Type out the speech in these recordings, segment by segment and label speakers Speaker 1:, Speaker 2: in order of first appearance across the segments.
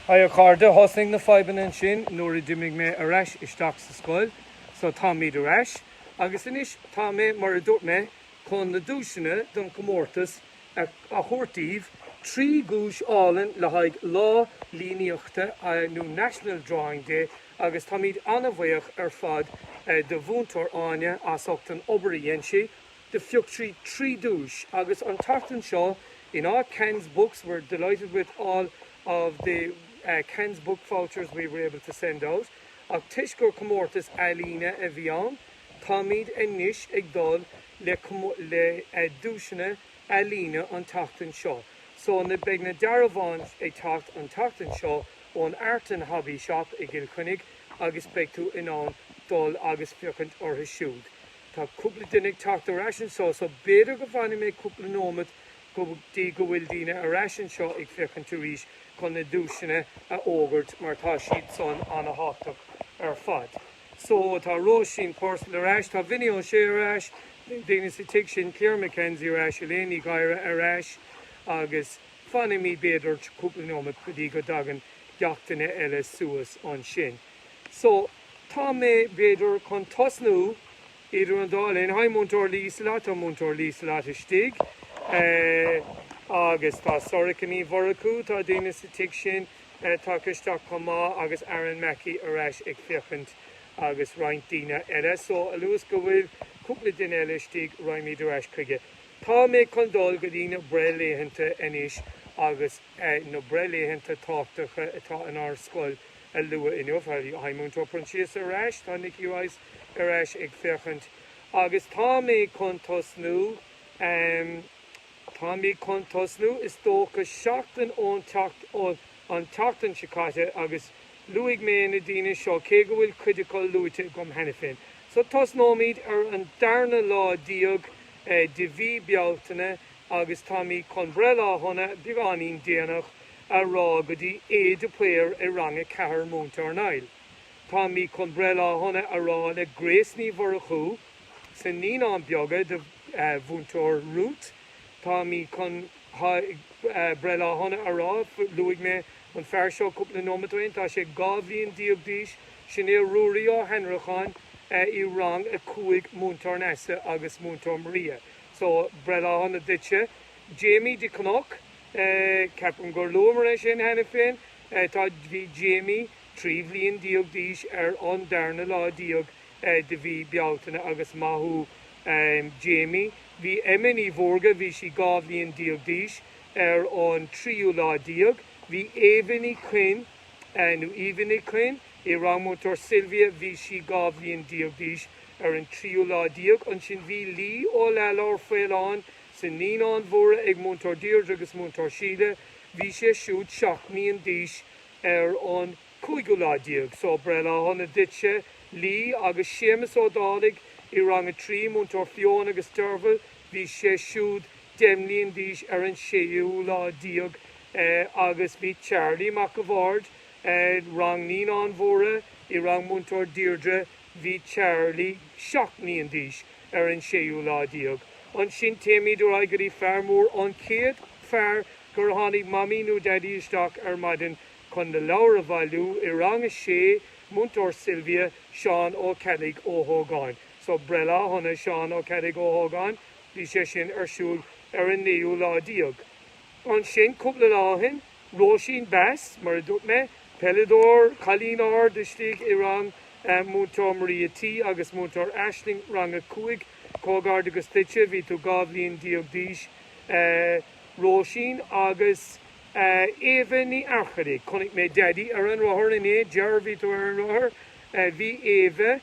Speaker 1: Hi a chairde, thosnaigh na fadhbanna ansin nuair a d'imigh mé ar ais isteach sa scoil so táimid ar ais agus anois tá mé, mar a dúirt mé, chun na duaiseanna don chomórtas a thabhairt daoibh, trí dhuais álainn le haghaidh Lá Líníochta nó National Drawing Day agus táimid an-bhuíoch ar fad de Mhúinteoir Áine as ucht an obair a dhein sí. de phiocadh trí duais agus an tseachtain seo in all Khan's Books we're delighted with all of the Khan's Book vouchers we were able to send out ach toisc gur comórtas ealaíne a bhí ann táimid anois ag dul le duaiseanna ealaíne an tseachtain seo so beidh na dearbháin ag teacht an tseachtain seo ón Art and Hobby Shop i gCill Chainnigh agus beidh tú in ann dul agus féachaint orthu siúd. Tá cúpla duine ag teacht ar ais anseo so b'fhéidir go bhfanfaidh mé cúpla nóimeat go dtí go bhfuil daoine ar ais anseo ag féachaint arís chun na duaiseanna a fhógairt mar tá siad san ana-thábhachtach ar fad. So tá Róisín Purcell ar ais, tá Vinny Ó Sé ar ais, daoine sa tigh sin, Claire McKenzie ar ais, Elaine Ní Ghadhra ar ais agus fanfaimid b'fhéidir cúpla nóimeat go dtí go dtagann gach duine eile suas ansin. so tá mé, b'fhéidir, chun tosnú idir an dá linn. Hi Múinteoir Lee Slate Tá Múinteoir Lee Slate istigh agus tá Sorcha Ní Mhurchú, tá daoine sa tigh sin ag teacht isteach chomh maith agus Aaron Mackey ar ais ag féachaint agus roinnt daoine eile. So a luas go bhfuil cúpla duine eile istigh raghaimid ar ais chuige. Tá mé chun dul go dtí na breithlaethanta anois agus na breithlaethanta tábhachtacha atá inár scoil a lua inniu. Hi Múinteoir Proinsias ar ais, tá Nicky Rice ar ais ag féachaint agus tá mé chun tosnú, tá mé chun tosnú is dócha seachtain ón tseachtain, tseachtain seo caite agus luaigh mé na daoine seo cé go bhfuil cuid acu luaite agam cheana féin. So tosnóimid ar an darna lá déag de mhí Bealtaine agus táimid chun breithlá shona beagáinín déanach a rá go dtí A. de Paor i rang a ceathair, Múinteoir Niall. Táimid chun breithlá shona a rá le Grace Ní Mhurchú sna Naíonáin Bheaga de Mhúinteoir Ruth. Táimid chun breithlá shona a rá, luaigh mé an fear seo cúpla nóimeat ó shin, tá sé dhá bhliain déag d'aois, sin é Ruairí Ó hAnnracháin i rang a cúig, Múinteoir Neasa agus Múinteoir Maria. So, breithlá shona duitse. Jamie de Cnoc, Ceapaim gur luamar é sin cheana féin. Tá, bhí Jamie trí bhliain déag d'aois ar an darna lá déag de mhí Bealtaine agus maith thú Jamie. Bhí Emma Ní Mhórdha, bhí sí dhá bhliain déag d'aois ar an tríú lá déag. Bhí Eva Ní Coinn. nó Eva Nic Coinn, i rang Múinteoir Sylvia, bhí sí dhá bhliain déag d'aois ar an tríú lá déag, ansin bhí Lee Ó Leathlobhair Faoláin sna Naíonáin Mhóra ag Múinteoir Deirdre agus Múinteoir Síle, bhí sé siúd seacht mbliain d'aois ar an cúigiú lá déag. So, breithlá shona duitse, Lee, agus Séamus Ó Dálaigh i rang a trí, Múinteoir Fiona agus Derval, Bhí sé siúd deich mbliain d'aois ar an séú lá déag agus bhí Charlie Mac a' Bhaird, Rang Naíonáin Mhóra, i rang Múinteoir Deirdre, bhí Charlie seacht mbliain d'aois ar an séú lá déag. Ansin téimid ar aghaidh go dtí fear mór, an chéad fear gur tháinig Mamaí nó Daidí isteach ar maidin chun na leabhair a bhailiú, i rang a sé, Múinteoir Sylvia, Seán Ó Ceallaigh Ó hÓgáin. So breithlá shona Seán Ó Ceallaigh Ó hÓgáin, bhí sé sin ar siúl ar an naoú lá déag. Ansin, cúpla lá ó shin, Róisín Bass, mar a dúirt mé, peileadóir, cailín ard istigh i rang Múinteoir Maria T agus Múinteoir Aisling, rang a cúig, comhghairdeachas duitse, bhí tú dhá bhliain déag d'aois a Róisín. Agus Éabha Ní Fhearchair, chonaic mé Daidí ar an rothar inné, deir, bhí tú ar an rothar, bhí Éabha,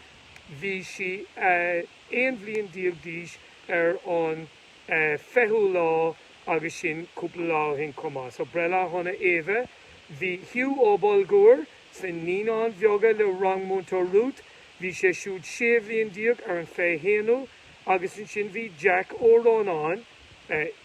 Speaker 1: Bhí sí aon bhliain déag d'aois ar an 20ú lá agus sin cúpla lá ó shin chomh maith. So breithlá shona Éabha. Bhí Hugh Ó Bulgúir sna Naíonáin Bheaga le rang Múinteoir Ruth. Bhí sé siúd sé bhliain déag ar an 21ú agus ansin bhí Jack Ó Rónáin,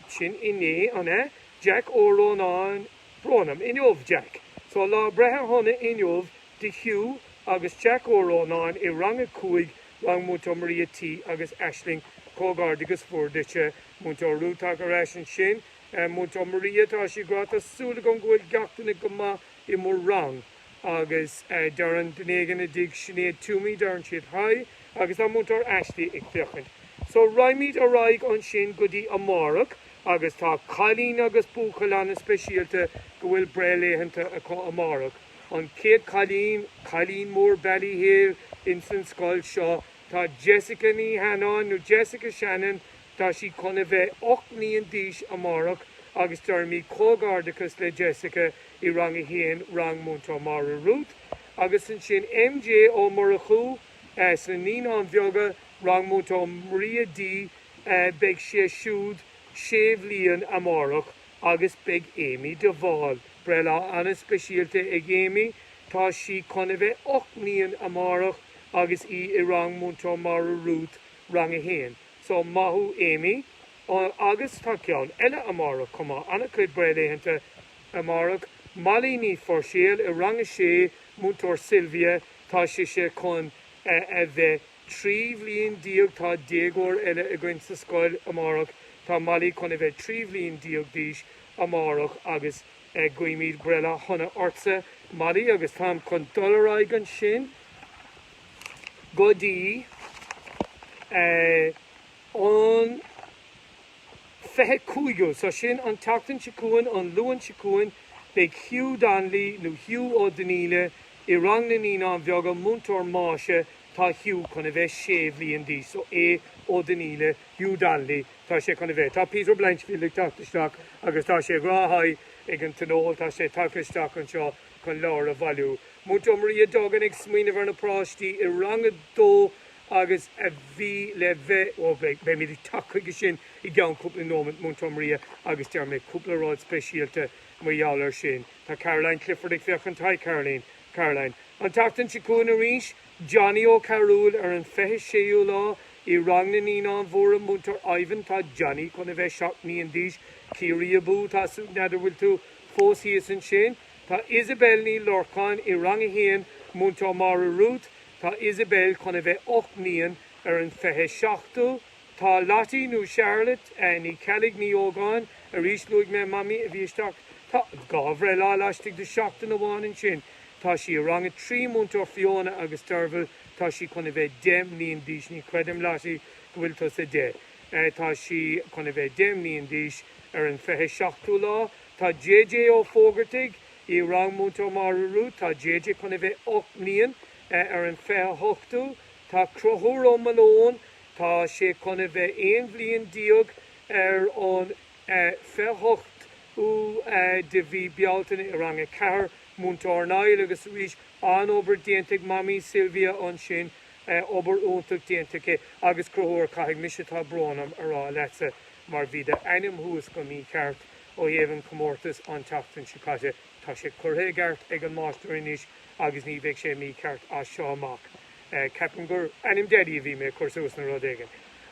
Speaker 1: sin inné an ea? Jack Ó Rónáin, brón orm, inniu Jack. So lá breithe shona inniu do Hugh agus Jack Ó Rónáin i Rang a Cúig, Rang Múinteoir Maria T agus Aisling, comhghairdeachas mhór duitse, Múinteoir Ruth tagtha ar ais ansin, Múinteoir Maria tá sí ag rá, tá súil agam go bhfuil gach duine go maith i mo rang agus deireann duine éigin i dtigh Sinéad Toomey deireann siad Hi agus tá Múinteoir Ashley ag féachaint so raghaimid ar aghaidh ansin go dtí amárach agus tá cailín agus buachaill ana speisialta go bhfuil breithlaethanta acu amárach. An chéad cailín, cailín mór Ballyhale, ins an scoil seo tá Jessica Ní Sheanáin, nó Jessica Shannon, tá sí chun a bheith ocht mbliain d'aois amárach agus deirimid comhghairdeachas le Jessica i rang a haon, rang Múinteoir Máire Ruth. Agus ansin MJ Ó Murchú sna Naíonáin Bheaga, rang Múinteoir Maria D, beidh sé siúd sé bhliain amárach. Agus beidh Amy de Bhál, breithlá an-speisialta ag Amy, tá sí chun a bheith ocht mbliain amárach agus í i rang Múinteoir Máire Ruth, Rang 1. So, maith thú Amy. Agus tá ceann eile amárach chomh maith, an-chuid breithlaethanta amárach, Molly Ní Phuirséil i rang 6, Múinteoir Sylvia, tá sise chun a bheith 13 bliana déag tá déagóir eile againn sa scoil amárach, tá Molly chun a bheith 13 bhliain d'aois amárach agus guímid breithlá shona ortsa Molly agus táim chun dul ar aghaidh ansin go dtí an 25ú so sin an tseachtain seo chugainn, an Luan seo chugainn beidh Hugh Donnelly nó Hugh Ó Donnaíle i rang na naíonáin bheaga, múinteoir Máise Tá Hugh chun a bheith sé bhliain d'aois, so Hugh Ó Donnaíle, Hugh Donnelly, tá sé chun a bheith. Tá Peter Blanchfield ag teacht isteach agus tá sé go háirithe ag an Tionól, tá sé tagtha isteach anseo chun leabhair a bhailiú. Múinteoir Maria Duggan ag smaoineamh ar na páistí i rang a dó agus a bhí le bheith, ó beimid ag teacht chuige sin i gceann cúpla nóimeant, Múinteoir Maria agus déarfaidh mé cúpla rud speisialta mar gheall air sin. Tá Caroline Clifford ag féachaint, hi Caroline. Caroline. An tseachtain seo chugainn arís, Johnny Ó Cearúil, ar an 26ú lá, i rang na Naíonáin Mhóra, Múinteoir Ivan, Tá Johnny chun a bheith seacht mbliain d'aois. Ciarraí abú! Tá súil n'fheadar bhfuil tú fós thíos ansin? Tá Isabelle Ní Lorcáin i rang a haon, Múinteoir Máire Ruth, Tá Isabelle chun a bheith ocht mbliain ar an 27ú. Tá Lottie, nó Charlotte, Ní Cheallaigh, Ní Ógáin, arís, luaigh mé Mamaí a bhí isteach, tá dhá bhreithlá laistigh de sheachtain amháin ansin, tá sí i rang a trí, Múinteoir Fiona agus Derval, tá sí chun a bheith deich mbliain d'aois, ní chreidim, Lottie, go bhfuil tusa deich, tá sí chun a bheith deich mbliain d'aois ar an fiche seachtú lá, tá JJ Ó Fógartaigh i rang Múinteoir Máire Ruth, tá JJ chun a bheith ocht mbliain ar an fiche hochtú, tá Conchúr Ó Maoileoin, Tá sé chun a bheith aon bhliain déag ar an 28ú de mhí Bealtaine i Rang 4, Múinteoir Niall, agus arís an-obair déanta ag Mamaí Sylvia ansin, obair iontach déanta acu agus Conchúr caithfidh mise tá brón orm a rá leatsa mar bhí d'ainm thuas go mícheart ó thaobh an chomórtas an tseachtain seo caite. Tá sé curtha i gceart ag an máistir anois agus ní bheidh sé mícheart as seo amach. Ceapaim gur ainm Deaidí a bhí mé ag cur suas nó rud éigin.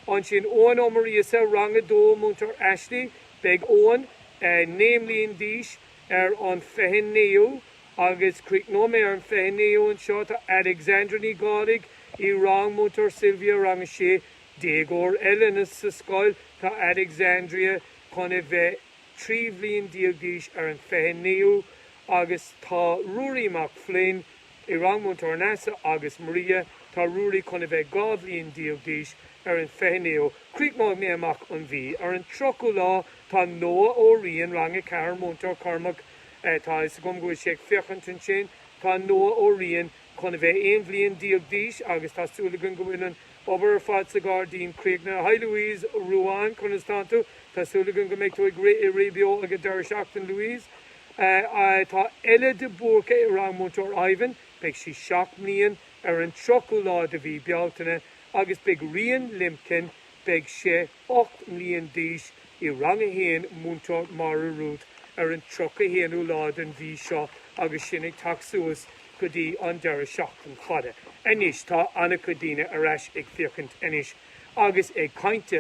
Speaker 1: Ansin, Eoghan Ó Muiríosa, Rang 2, Múinteoir Ashley, Beidh Eoghan naoi mbliain d'aois ar an 29ú agus críochnóidh mé ar an 29ú anseo. Tá Alexandra Ní Dhálaigh i rang Múinteoir Sylvia, Rang 6, Déagóir eile sa scoil, tá Alexandria chun a bheith. 13 bhliain d'aois ar an 29ú agus tá Ruairí Mac Floinn i rang Múinteoir Neasa agus Maria. Tá Ruairí chun a bheith 12 bhliain d'aois ar an 29ú. Críochnóidh mé amach an mhí ar an 30ú lá. Tá Noah Ó Riain, rang 4, Múinteoir Cormac, tá fhios agam go bhfuil sé ag féachaint ansin, tá Noah Ó Riain chun a bheith 11 bhliain d'aois agus tá súil againn go bhfuil an Obair ar fad sa ghairdín críochnaithe. Hi Louise, Ruán, conas tánn tú? Tá súil againn go mbeidh tú ag rith i rith beo ag an deireadh seachtain Louise. Tá Ella de Búrca i rang Múinteoir Ivan, beidh sí seacht mbliain ar an 30ú lá de mhí Bealtaine agus beidh Rian Limpkin, beidh sé. 8 mbliain d'aois, i Rang 1, Múinteoir, Máire Ruth, ar an 31ú lá den mhí seo agus sinn ag teacht suas go dtí an deireadh seachtain fada anois. Tá an-chuid daoine ar ais ag féachaint anois agus ag caint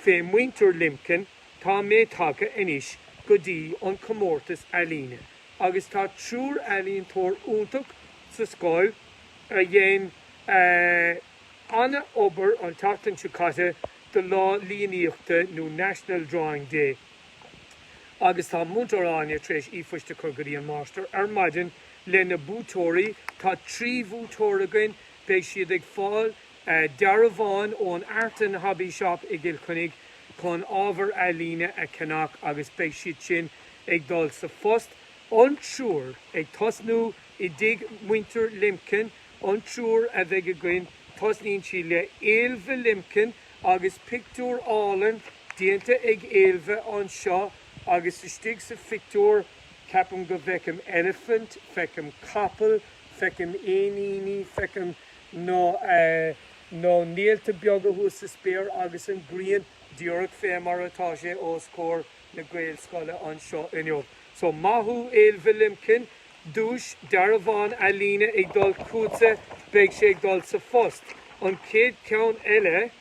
Speaker 1: fé Muintir Limkin. Tá mé tagtha anois go dtí an comórtas ealaíne agus tá triúr ealaíontóir iontach sa scoil a dhein eh, Ana-obair an tseachtain seo caite do Lá Líníochta nó National Drawing Day agus tá Múinteoir Áine tar éis ephoist a chur go dtí an Máistir ar maidin le na buaiteoirí. Tá trí bhuaiteoir againn. Beidh siad ag fáil dearbháin ón Art and Hobby Shop i gCill Chainnigh chun ábhar ealaíne a cheannach agus beidh siad sin ag dul sa phost. An triúr ag tosnú i dtigh Muintir Limkin An triúr a bheidh againn, tosnaíonn sí le Ailbhe Limkin agus pictiúr álainn déanta ag Ailbhe anseo agus istigh sa phictiúr ceapaim go bhfeicim eilifint, feicim capall, feicim éiníní, feicim na na néalta beaga thuas sa spéir agus an ghrian díreach fé mar atá sé os comhair na Gaelscoile anseo inniu. So maith thú Ailbhe Limkin Duais, Dearbhán Ealaíne ag dul chugatsa, beidh sé ag dul sa phost. An chéad cheann eile,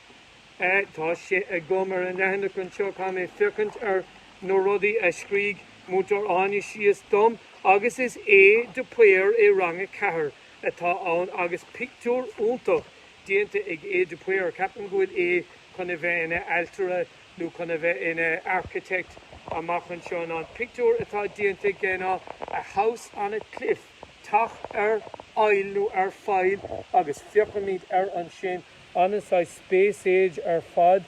Speaker 1: eh tá sé agam ar an leathanach anseo, caithfidh mé féachaint ar na rudaí a scrígh Múinteoir Áine síos dom agus is Aodh de Paor i Rang a Ceathair atá ann agus pictiúr iontach déanta ag Aodh de Paor, ceapaim go bhfuil Aodh chun a bheith ina ailtire nó chun a bheith ina architect amach anseo ná an pictiúr atá déanta aige ná a house on a cliff, teach ar aill nó ar faill agus féachaimis air ansin ana-shaghas space age ar fad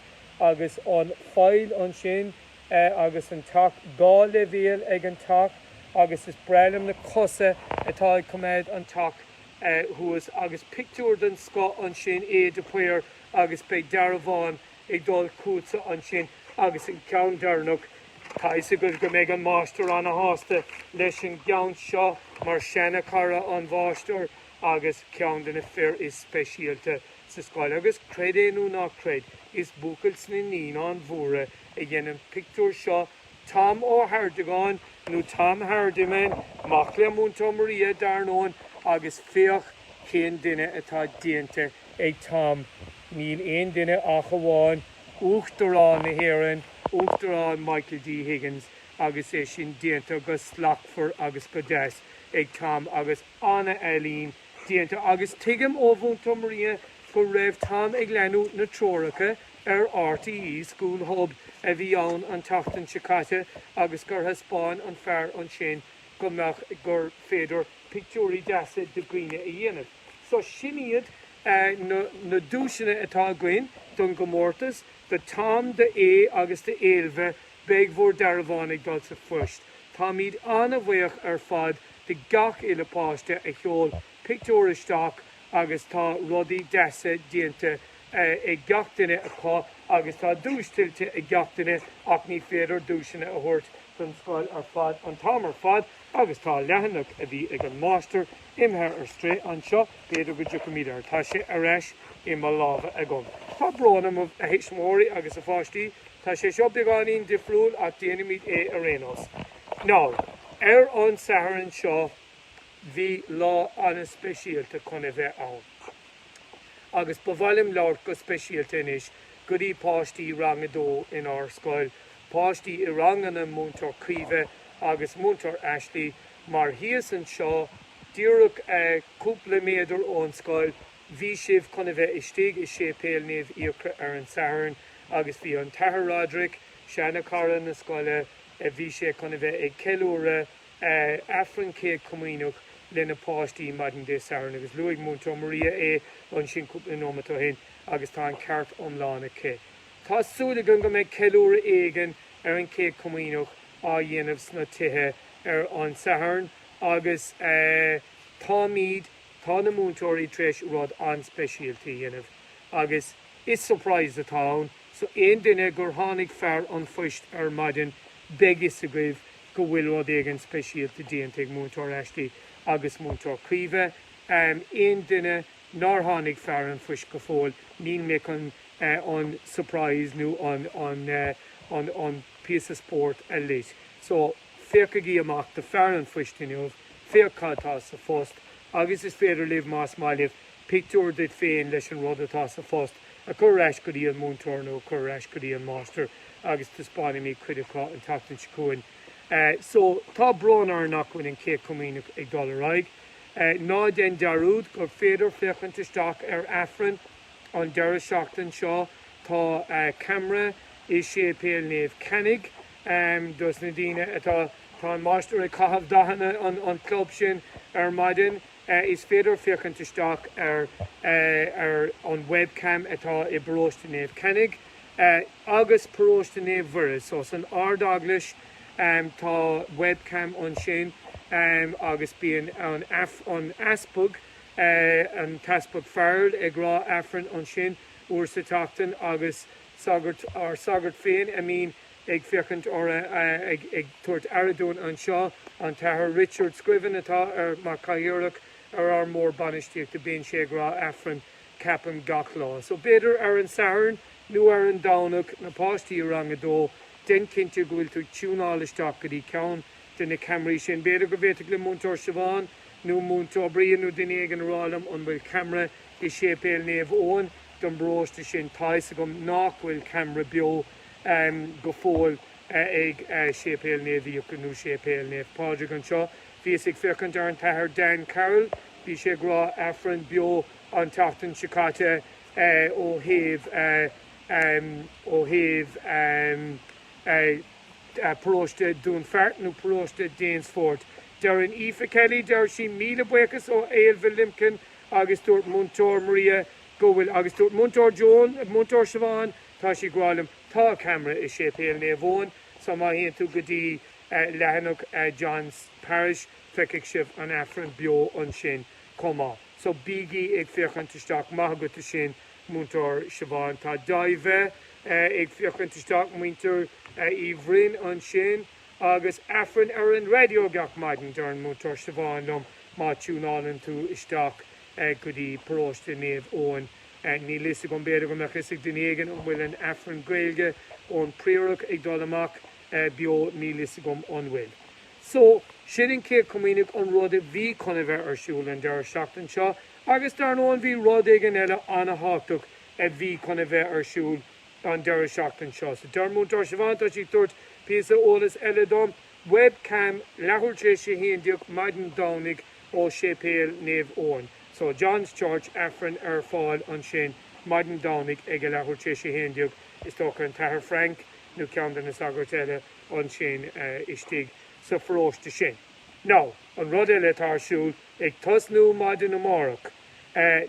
Speaker 1: agus an faill ansin agus an teach dhá leibhéal ag an teach agus is breá liom na cosa atá ag coimeád an teach thuas agus pictiúr den scoth ansin Aodh de Paor agus beidh dearbhán ag dul chugatsa ansin agus an ceann deireanach, tá 'fhios agaibh go mbeidh an Máistir ana-shásta leis an gceann seo mar seana chara an Mháistir agus ceann de na fir is speisialta sa scoil agus creid é nó ná creid is buachaill sna Naíonáin Mhóra a dhein an pictiúr seo, Tom Ó hArtagáin nó Tom Hardiman, mac le Múinteoir Maria dar ndóin agus féach cén duine atá déanta ag Tom, Níl aon duine ach amháin Uachtarán na hÉireann, Uachtarán Michael D. Higgins, agus é sin déanta go slachtmhar agus go deas ag Tom agus an-ealaín déanta agus tuigim ó Mhúinteoir Maria go raibh Tom ag leanúint na treoracha ar RTÉ School Hub a bhí ann an tseachtain seo caite agus gur thaispeáin an fear ansin go mbeadh gur féidir pictiúirí deasa de dhaoine a dhéanamh. So sin iad na duaiseanna atá againn don gcomórtas, do Tom, do Aodh agus do Ailbhe, beidh bhur dearbháin ag dul sa phost. Táimid an-bhuíoch ar fad de gach uile páiste a sheol pictiúr isteach agus tá rudaí deasa déanta ag gach duine acu agus tá duais tuillte ag gach duine ach ní féidir duaiseanna a thabhairt don scoil ar fad an t-am ar fad. Agus tá leathanach a bhí ag an Máistir imithe ar strae anseo, b'fhéidir go dtiocfaimid air. Tá sé ar ais i mo lámha agam. Tá brón orm, a thuismitheoirí agus a pháistí, tá sé seo beagáinín difriúil ach déanfaimid é ar aon nós. Now, ar an Satharn seo bhí lá an-speisialta chun a bheith ann. Agus ba mhaith liom labhairt go speisialta anois go dtí páistí Rang a Dó inár scoil páistí i ranganna Múinteoir Caoimhe agus Múinteoir Ashley mar thíos anseo díreach cúpla méadar ón scoil bhí sibh chun a bheith istigh i Séipéal Naomh Fiachra ar an Satharn agus bhí an tAthair Roderic, seana chara na scoile, bhí sé chun a bheith ag ceiliúradh Aifreann Céad Comaoineach leis na páistí maidin Dé Sathairn agus luaigh Múinteoir Maria é ansin cúpla nóimeat ó shin agus tá an ceart iomlán aici. Tá súil againn go mbeidh ceiliúradh éigin ar an Chéad Comaoineach á dhéanamh sna tithe ar an Satharn agus táimid, tá na múinteoirí tar éis rud an-speisialta a dhéanamh agus is surprise atá ann so aon duine gur tháinig fear an phoist ar maidin beidh 'fhios agaibh go bhfuil rud éigin speisialta déanta ag Múinteoir Ashley agus Múinteoir Caoimhe. Aon duine? nár tháinig fear an phoist go fóill, níl mé chun an surprise nó an píosa spóirt a loit. So, féachaigí amach do fear an phoist inniu, féach cad tá sa phost, agus is féidir libh, más maith libh, pictiúr duit féin leis an rud atá sa phost a chur ar ais go dtí an múinteoir nó a chur ar ais go dtí an máistir agus taispeánfaimid cuid acu an tseachtain seo chugainn. So, tá brón orainn nach bhfuil an Chéad Comaoineach ag dul ar aghaidh. Ná déan dearúd gur féidir féachaint isteach ar Aifreann an deireadh seachtain seo, tá camera i Séipéal Naomh Cainnigh dos na daoine atá, tá an Máistir ag caitheamh dathanna an chlub sin ar maidin, is féidir féachaint isteach ar an webcam atá i bParóiste Naomh Cainnigh agus Paróiste Naomh Mhuire, so san Ard-Eaglais. Tá webcam ansin agus bíonn an Easpag, an tEaspag Farrell ag rá Aifrinn ansin uair sa tseachtain agus sagairt, ár sagart féin a mbíonn ag féachaint ar, ag tabhairt aire dúinn anseo, an tAthair Richard Scriven atá ar, mar Cathaoirleach ar ár mBord Bainistíochta bíonn sé ag rá Aifrinn ceapaim gach lá. So b'fhéidir ar an Satharn nó ar an Domhnach na páistí i rang a dó Déan cinnte go bhfuil tú ag tiúnáil isteach go dtí ceann de na ceamaraí sin. B'fhéidir go bhféadfadh le Múinteoir Siobhán nó Múinteoir Brian nó duine éigin a rá liom an bhfuil ceamara i séipéal Naomh Eoin don bparóiste sin. Tá a fhios agam nach bhfuil ceamara beo go fóill ag séipéal Naomh Fhiacre nó séipéal Naomh Pádraig anseo. Bhíos ag féachaint ar an tAthair Dan Carroll, bhí sé ag rá Aifreann beo an tseachtain seo caite ó thaobh. ó thaobh paróiste Dún Fheart nó paróiste Danesfort. Deir an Aoife Kelly, deir sí, Míle buíochas ó Ailbhe Limpkin agus dúirt Múinteoir Maria go bhfuil agus dúirt Múinteoir Joan, Múinteoir Siobhán, tá sí ag rá liom, tá camera i Séipéal Naomh Eoin so má théann tú go dtí leathanach John's Parish feicfidh sibh an Aifreann beo ansin chomh maith. So bígí ag féachaint isteach. Maith agat as sin. Múinteoir Siobhán, tá David ag féachaint isteach muintir Uí Bhroin ansin agus Aifreann ar an raidió gach maidin. Deireann Múinteoir Siobhán liom má tiúnáileann tú isteach go dtí paróiste Naomh Eoin, níl fhios agam, b'fhéidir go mbeadh fhios ag duine éigin, an bhfuil an Aifreann Gaeilge ón Priarach ag dul amach beo, níl fhios agam an bhfuil. So, sin an Céad Comaoineach, an rud a bhí chun a bheith ar siúl an deireadh seachtain seo. Agus dar ndóigh bhí rud éigin eile ana-thábhachtach a bhí chun a bheith ar siúl an deireadh seachtain seo. So deir Múinteoir Siobhán, tá sí ag tabhairt píosa eolais eile dom, webcam leathuair tar éis a haon déag maidin Domhnaigh ó Séipéal Naomh Eoin. St John's Church, Aifreann ar fáil ansin maidin Domhnaigh ag a leathuair tar éis a haon déag, is dócha an tAthair Frank nó ceann de na sagairt eile ansin istigh sa pharóiste sin. Now, an rud eile atá ar siúl, Ag tosnú maidin amárach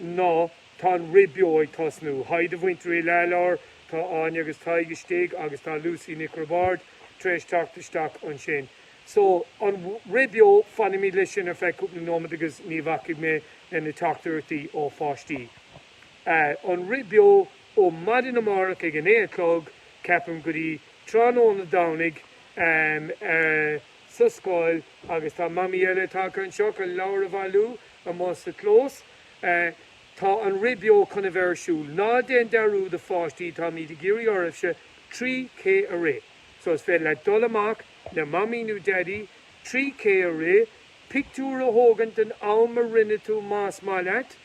Speaker 1: ná tá an rith beo ag tosnú. Haigh do mhuintir Uí Leathlobhair, tá Áine agus Tadhg istigh agus tá Lucy Nic Roibeáird tar éis teacht isteach ansin. So, an rith beo, fanfaimid leis sin ar feadh cúpla nóimead agus ní bhacfaidh mé leis na teachtaireachtaí ó pháistí. An rith beo ó maidin amárach ag a naoi a chlog, ceapaim, go dtí tráthnóna Domhnaigh. sa scoil agus tá Mamaí eile tagtha anseo chun leabhair a bhailiú amuigh sa chlós. Tá an rith beo chun a bheith ar siúl. Ná déan dearúd a pháistí, táimid ag iarraidh oraibhse 3K a rith. So is féidir leat dul amach le Mamaí nó Daidí, 3K a rith, pictiúr a thógaint den am a rinne tú más maith leat,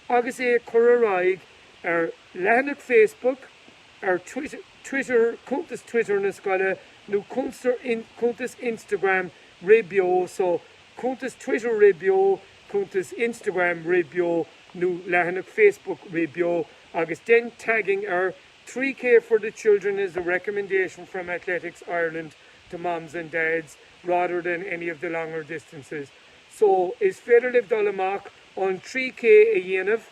Speaker 1: agus é a chur ar aghaidh ar leathanach Facebook, ar Twitter. Twitter, cuntas Twitter na scoile, nó cuntas Instagram rith beo, so, cuntas Twitter rith beo, cuntas Instagram rith beo, nó leathanach Facebook rith beo, agus dein tagging air, 3K for the children is a recommendation from Athletics Ireland to moms and dads rather than any of the longer distances. So, is féidir libh dul amach an 3K a dhéanamh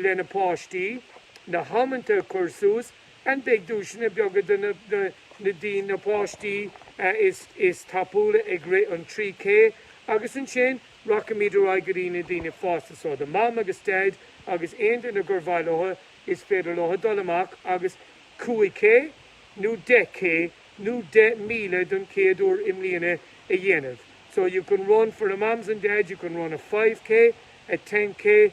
Speaker 1: leis na páistí, na hamanta a chur suas, And beidh duaiseanna beaga do na daoine, na páistí, is tapúla ag rith an 3K? Agus ansin rachaimid ar aghaidh go dtí na daoine fásta so do Mham agus Daid agus aon duine gur mhaith leo, is féidir leo dul amach agus 5K nó 10K nó deich míle don chéad uair i mbliana a dhéanamh. So you can run for the Mams and Dads, you can run a 5K, a 10K,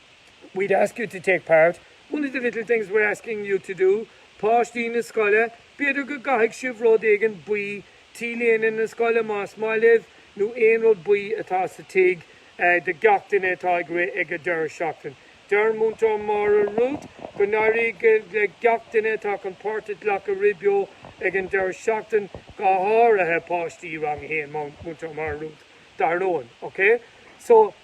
Speaker 1: we'd ask you to take part, one of the little things we're asking you to do páistí na scoile, b'fhéidir go gcaithfidh sibh rud éigin buí, t-léine na scoile más maith libh, nó aon rud buí atá sa tigh do gach duine atá ag rith ag an deireadh seachtaine. Deir Múinteoir Máire Ruth go n-éirí le gach duine atá chun páirt a ghlacadh rith beo ag an deireadh seachtaine, go háirithe páistí Rang 1 Múinteoir Máire Ruth dar ndóigh okay so.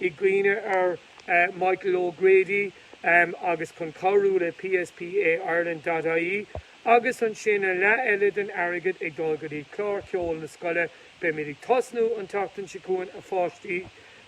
Speaker 1: i gcuimhne ar Michael O'Grady agus chun cabhrú le PSPA Ireland dot ie agus ansin an leath eile den airgead ag dul go dtí clár ceoil na scoile. Beimid ag tosnú an tseachtain seo chugainn a pháistí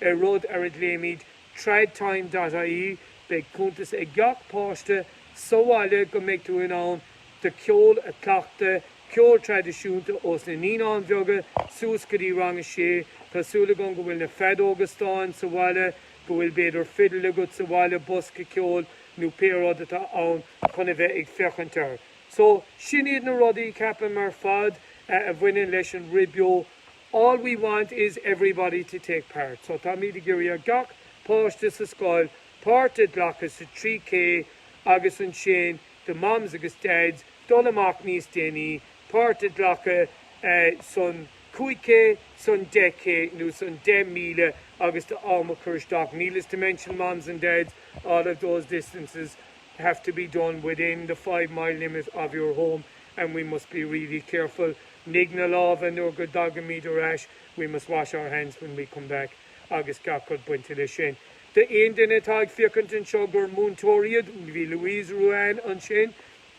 Speaker 1: ar rud ar a ghlaoimid Tradtime dot ie. Beidh cuntas ag gach páiste sa bhaile go mbeidh tú in ann do cheol a chleachtadh. ceol traidisiúnta ós na Naíonáin Bheaga suas go dtí rang a sé. Tá súil agam go bhfuil na feadóga stáin sa bhaile, go bhfuil b'fhéidir fidil agat sa bhaile, bosca ceoil nó pé rud atá ann chun a bheith ag féachaint air. So, sin iad na rudaí, ceapaim, ar fad a bhaineann leis an Rith Beo. All we want is everybody to take part. So, táimid ag iarraidh ar gach páiste sa scoil páirt a ghlacadh sa 3K agus ansin, do Moms agus Dads dul amach níos déanaí, páirt a ghlacadh san 5K, san 10K nó san 10 míle agus do am a chur isteach needless to mention moms and dads, all of those distances have to be done within the five mile limit of your home and we must be really careful, nigh na lámha nuair go dtagaimid ar ais, we must wash our hands when we come back agus gach rud bainte leis sin. Do aon duine atá ag féachaint anseo gur múinteoir iad, bhí Louise Ruane ansin,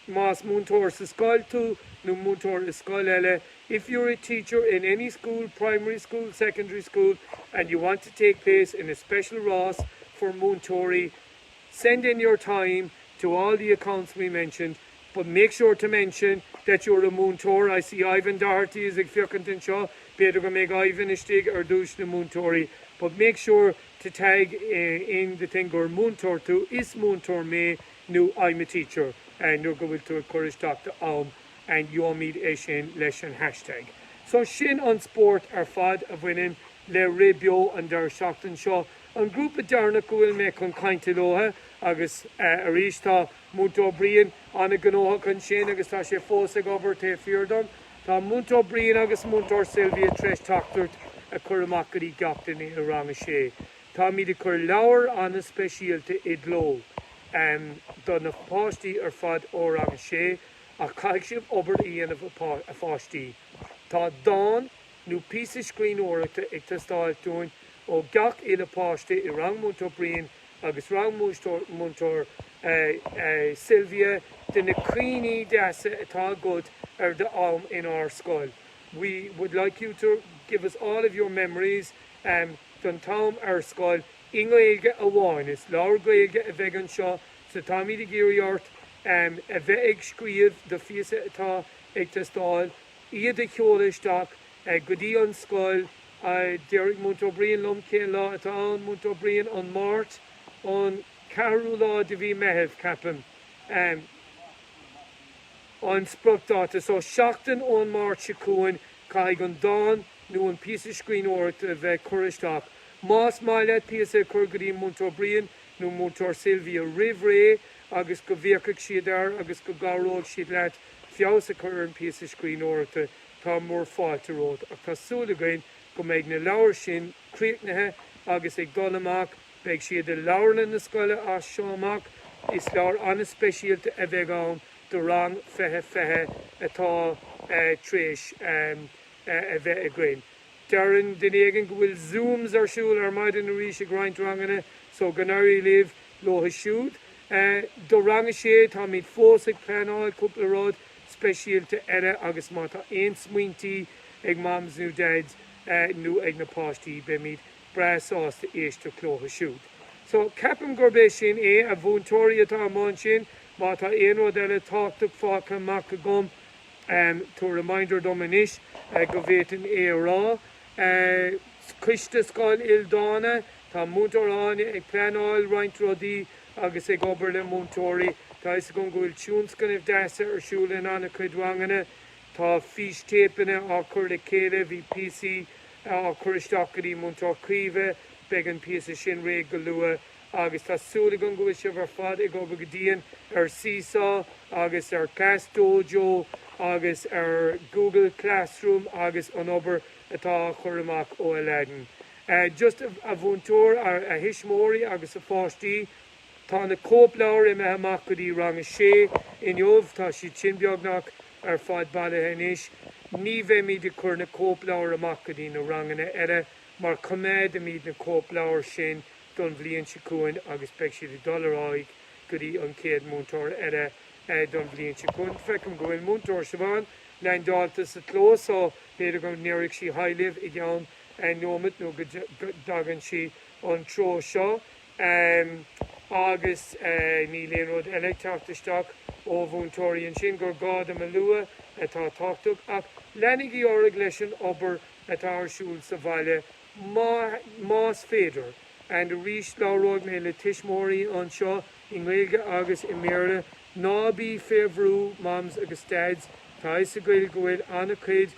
Speaker 1: más múinteoir sa scoil tú nó múinteoir i scoil eile, if you're a teacher in any school, primary school, secondary school, and you want to take place in a special rás for múinteoirí, send in your time to all the accounts we mentioned, but make sure to mention that you're a múinteoir, I see Ivan Doherty is ag féachaint anseo, b'fhéidir go mbeidh Ivan istigh ar dtúis na múinteoirí, but make sure to tag in the thing gur múinteoir tú, is múinteoir mé nó I'm a teacher nuair go bhfuil tú ag cur isteach do am and gheobhaimid é sin leis an hashtag. So sin an spórt ar fad a bhaineann le rith beo an deireadh seachtain seo. An grúpa deireanach go bhfuil mé chun cainte leotha agus arís tá Múinteoir Brian an-ghnóthach ansin agus tá sé fós ag obair taobh thiar dom. Tá Múinteoir Brian agus Múinteoir Sylvia tar eis teachtaireacht a chur amach go dtí gach duine i rang a sé. Táimíd ag cur leabhair an-speisialta i gcló do na páistí ar fad ó rang a sé ach caithfidh sibh obair a dhéanamh a pháistí. Tá dán nó píosa scríbhneoireachta ag teastáilt uainn ó gach uile páiste i rang Múinteoir Brian agus rang Múinteoir Sylvia de na cuimhní deasa atá agat ar d'am in ár scoil we would like you to give us all of your memories don t-am ar scoil i nGaeilge amháin is leabhar Gaeilge a bheidh anseo so táimid ag iarraidh ort a bheith ag scríobh do phíosa atá ag teastáil iad a sheoladh isteach go dtí an scoil. Déarfaidh Múinteoir Brian liom cén lá atá ann. Múinteoir Brian, an Mháirt, an ceathrú lá de mhí Meithimh, ceapaim, an spriocdáta. So, seachtain ón Máirt seo chugainn, caithfidh an dán nó an píosa scríbhneoireachta a bheith curtha isteach. Más maith leat píosa a chur go dtí Múinteoir Brian nó Múinteoir Sylvia roimh ré agus go bhféachfaidh siad air agus go gcabhróidh siad leat feabhas a chur ar an bpíosa scríbhneoireachta, Tá mór fáilte romhaibh ach tá súil againn go mbeidh na leabhair sin críochnaithe agus ag dul amach, beidh siad i leabharlann na scoile as seo amach. Is leabhair an-speisialta a bheidh ann do rang fiche fiche atá tar éis a bheith againn. Deireann duine éigin go bhfuil zooms ar siúl ar maidin arís ag roinnt ranganna so go n-éirí libh leo siúd. Do rang a sé, táimid fós ag pleanáil cúpla rud speisialta eile agus má tá aon smaointí ag Moms nó Dads nó ag na páistí beimid breá sásta éisteacht leo siúd. So, ceapaim gurb é sin é, a mhúinteoirí atá i mbun sin, má tá aon rud eile tábhachtach fágtha amach agam tabhair reminder dom anois go bhféadfainn é a rá. Coiste Scoil Ildána, tá Múinteoir Áine ag pleanáil roinnt rudaí agus ag obair le múinteoirí. Tá a fhios agam go bhfuil tionscnaimh dheasa ar siúl in an-chuid ranganna. Tá fístéipeanna á chur le chéile, bhí píosaí á chur isteach go dtí Múinteoir Caoimhe, beidh an píosa sin réidh go luath. Agus tá súil agam go bhfuil sibh ar fad ag obair go dian ar Seesaw agus ar ClassDojo agus ar Google Classroom agus an obair atá á chur amach ó Aladdin. a Just a mhúinteoir, a thuismeoirí agus a pháistí Tá na cóipleabhair imithe amach go dtí rang a sé inniu. Tá siad sin beagnach ar fad bailithe anois. Ní bheimid ag cur na cóipleabhair amach go dtí na ranganna eile mar coimeádaimid na cóipleabhair sin don bhliain seo chugainn agus beidh siad ag dul ar aghaidh go dtí an chéad múinteoir eile don bhliain seo chugainn. Feicim go bhfuil Múinteoir Siobhán leaindeáilte sa chlós so b'fhéidir go ndéarfaidh sí haigh libh i gceann nóiméad nó go dtagann sí an treo seo agus níl aon rud eile ag teacht isteach ó mhúinteoirí ansin gur gá dom a lua atá tábhchtach ach leanaigí ar aghaidh leis an obair atá ar siúl sa bhaile más féidir and arís labhróidh mé le tuismitheoirí anseo i nGaeilge agus i mBéarla ná bí fé bhrú Moms agus Dads tá fhios againn go bhfuil an-chuid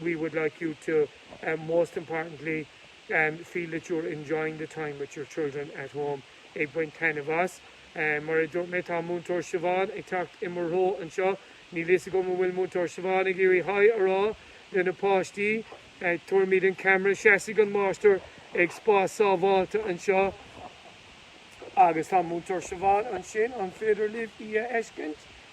Speaker 1: we would like you to, most importantly, feel that you're enjoying the time with your children at home, ag baint taitneamh as. Mar a dúirt mé, tá Múinteoir Siobhán ag teacht i mo threo anseo. Níl a fhios agam an bhfuil Múinteoir Siobhán ag iarraidh hi a rá do na páistí. Tabharfaimid an ceamara. Seasfaidh an máistir ag spás sábháilte anseo agus tá Múinteoir Siobhán ansin. An féidir libh í a fheiscint?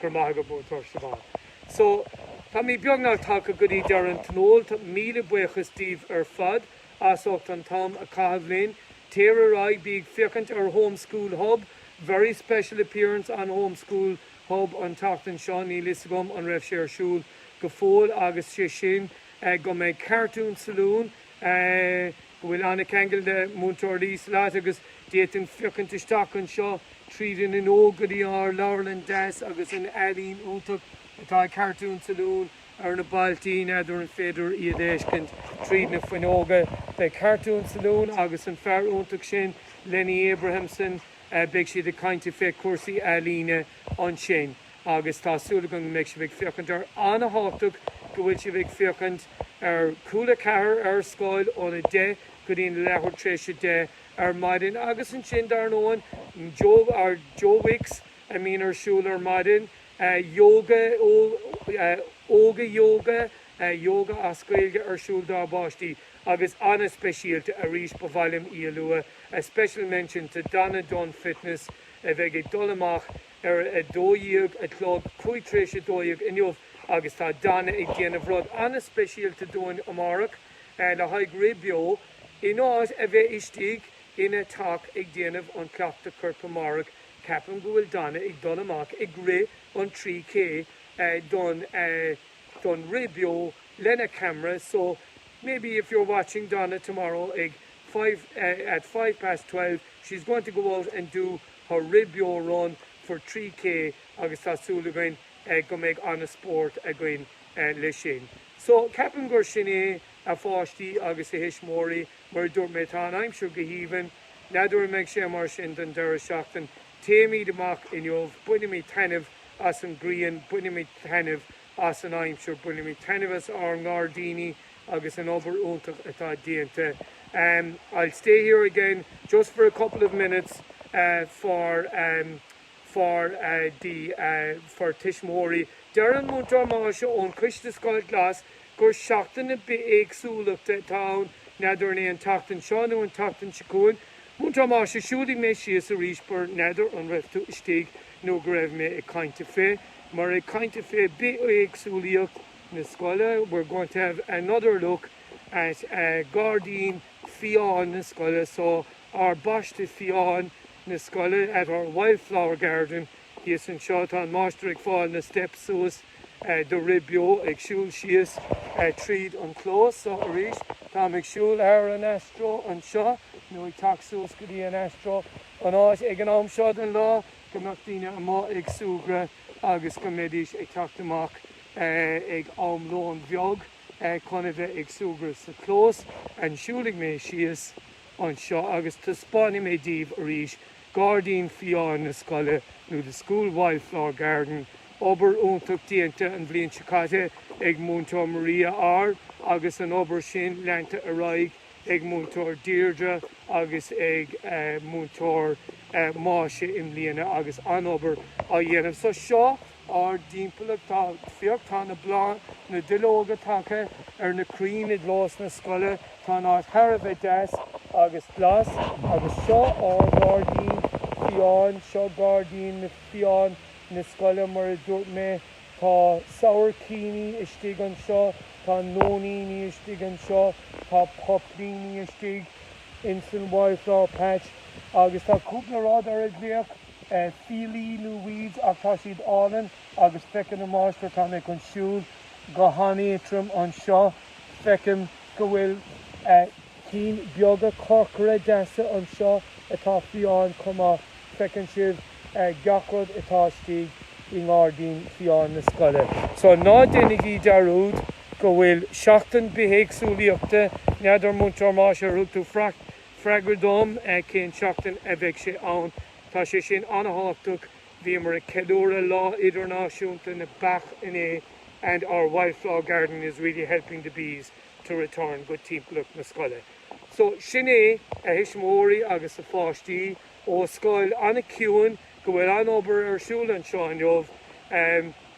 Speaker 1: Go raibh maith agat, Múinteoir Siobhán. So, táimid beagnach tagtha go dtí deireadh an tionól. Tá míle buíochas díbh ar fad as ucht an t-am a chaitheamh linn. Tar éis, bígí ag féachaint ar Home School Hub. Very special appearance on Home School Hub an tseachtain seo. Níl fhios agam an raibh sé ar siúl go fóill agus sé sin go mbeidh Cartoon Saloon. go bhfuil an-ceangal le Múinteoir Liesl agus d'fhéadfainn féachaint isteach anseo tríd an fhuinneog go dtí ár leabharlann deas agus an ealaín iontach atá ag Cartoon Saloon ar na ballaí n'fheadar an féidir iad a fheiscint tríd na fuinneoga. Beidh Cartoon Saloon agus an fear iontach sin Lenny Abrahamson, beidh siad ag caint fé chúrsaí ealaíne ansin. agus tá súil agam go mbeidh sibh ag féachaint ar an-tábhachtach go bhfuil sibh ag féachaint ar Cúla4 ar Scoil ón 10 go dtí an leathuair tréis 10 ar maidin agus ansin dar ndóigh Joe Wicks a mbíonn ar siúl ar maidin Yoga Ióga Yoga Yoga as Gaeilge ar siúl dá bpáistí agus an-speisialta arís ba mhaith liom í a lua Special mention to Donna Dunne Fitness a bheidh ag dul amach ar a dó dhéag a chlog, cúig tar éis a dó dhéag inniu agus tá Donna ag déanamh rud an-speisialta dúinn amárach le haghaidh rith beo, in áit a bheith istigh ina teach ag déanamh an chleachtadh coirp amárach, ceapaim go bhfuil Donna ag dul amach ag rith an 3K don don rith beo lena camera so maybe if you're watching Donna tomorrow ag five at five past twelve she's going to go out and do Her rith beo run for 3K agus tá súil againn go mbeidh an-spórt againn le sin. So, ceapaim gur sin é, a pháistí agus a thuismeoirí, mar a dúirt mé, tá an aimsir go haoibhinn. N'fheadar an mbeidh sé mar sin don deireadh seachtain. Téimid amach inniu, bainimid taitneamh as an grian, bainimid taitneamh as an aimsir, bainimid taitneamh as ár ngairdíní, agus an obair iontach atá déanta um I'll stay here again just for a couple of minutes uh for um for uh the uh for tuismitheoirí. Deir an Múinteoir Máise ón Coiste Scoil Glas gur seachtain na bithéagsúlachta atá ann, n'fheadar an é an tseachtain seo nó an tseachtain seo chugainn. Múinteoir Máise, Siúlfaidh mé síos arís but n'fheadar an raibh tú istigh nuair a bhí mé ag caint fé mar ag caint fé bithéagsúlaíocht, na scoile, we're going to have another look at gairdín fiáin na scoile, so ár bpaiste fiáin na scoile, at our wildflower garden, thíos anseo, tá an máistir ag fáil na steps suas dáiríre beo, ag siúl síos tríd an clós, so arís táim ag siúl thar an Astro anseo, nó ag teacht suas go dtí an Astro, an áit ag an am seo den lá go mbeadh daoine amuigh ag súgradh agus go mbeidís ag teacht amach. ag am lóin bheag chun a bheith ag súgradh sa chlós ansiúd siúlfaidh mé síos anseo agus taispeánfaidh mé daoibh arís gairdín fiáin na scoile nó the school wildflower garden obair iontach déanta an bhliain seo caite ag Múinteoir Maria R agus an obair sin leanta ar aghaidh ag Múinteoir Deirdre agus ag Múinteoir Máise i mbliana agus an-obair á dhéanamh so seo ár dtimpeallacht tá féach tá na bláth na duilleoga tagtha ar na crainn i gclós na scoile tá an áit thar a bheith deas agus glas agus seo ár ngairdín fiáin seo gairdín na fiáin na scoile mar a dúirt mé tá sabhaircíní istigh anseo tá nóiníní istigh anseo tá poipíní istigh insan wildflower patch agus tá cúpla rud ar a nglaoitear fiailí nó weeds ach tá siad álainn agus feiceann an máistir tá mé chun siúl go han-éadtrom anseo feicim go bhfuil cinn beaga corcra deasa anseo atá fiáin chomh maith feiceann sibh gach rud atá istigh i ngairdín fiáin na scoile so ná déanaigí dearúd go bhfuil seachtain bithéagsúlaíochta n'fheadar Múinteoir Máise ar thug tú freagra Freagra dom é, cén seachtain a bheidh sé ann? Tá sé sin an-thábhachtach. Bhíomar ag ceiliúradh Lá Idirnáisiúnta na Beach inné and our wildflower garden is really helping the bees to return go timpeallacht na scoile. So, sin é, a thuismitheoirí agus a pháistí, ó scoil an-chiúin go bhfuil an-obair ar siúl anseo inniu.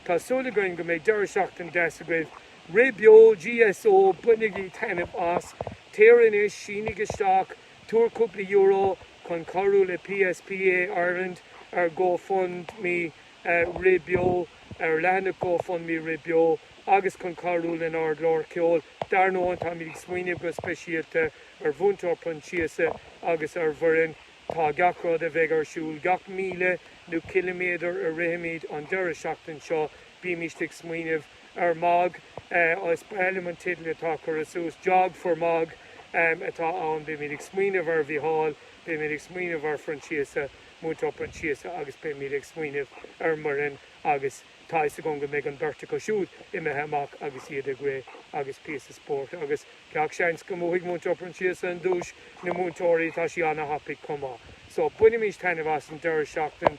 Speaker 1: Tá súil againn go mbeidh deireadh seachtain deas agaibh. Rith Beo GSO, bainigí taitneamh as, téir anois, sínigh isteach, tabhair cúpla euro chun cabhrú le PSPA Ireland ar GoFundMe Rith Beo, ar leathanach GoFundMe Rith Beo agus chun cabhrú lenár gclár ceoil. Dar ndóigh, táimid ag smaoineamh go speisialta ar Mhúinteoir Proinsiasa agus ar Mhuireann. Tá gach rud a bheidh ar siúl, gach míle nó ciliméadar a rithimid an deireadh seachtain seo, bímist ag smaoineamh, ar Mag, is breá liom an teideal atá curtha suas, Jog for Mag atá ann. Beimid ag smaoineamh ar Mhícheál, beimid ag smaoineamh ar Phroinsiasa, Múinteoir Proinsiasa agus beimid ag smaoineamh ar Mhuireann agus tá fhios agam go mbeidh an beirt acu siúd imithe amach agus iad ag rith agus píosa spóirt agus gach seans go mbuafaidh Múinteoir Proinsiasa an duais na múinteoirí tá sí ana thapaidh chomh maith so bainimis taitneamh as an deireadh seachtain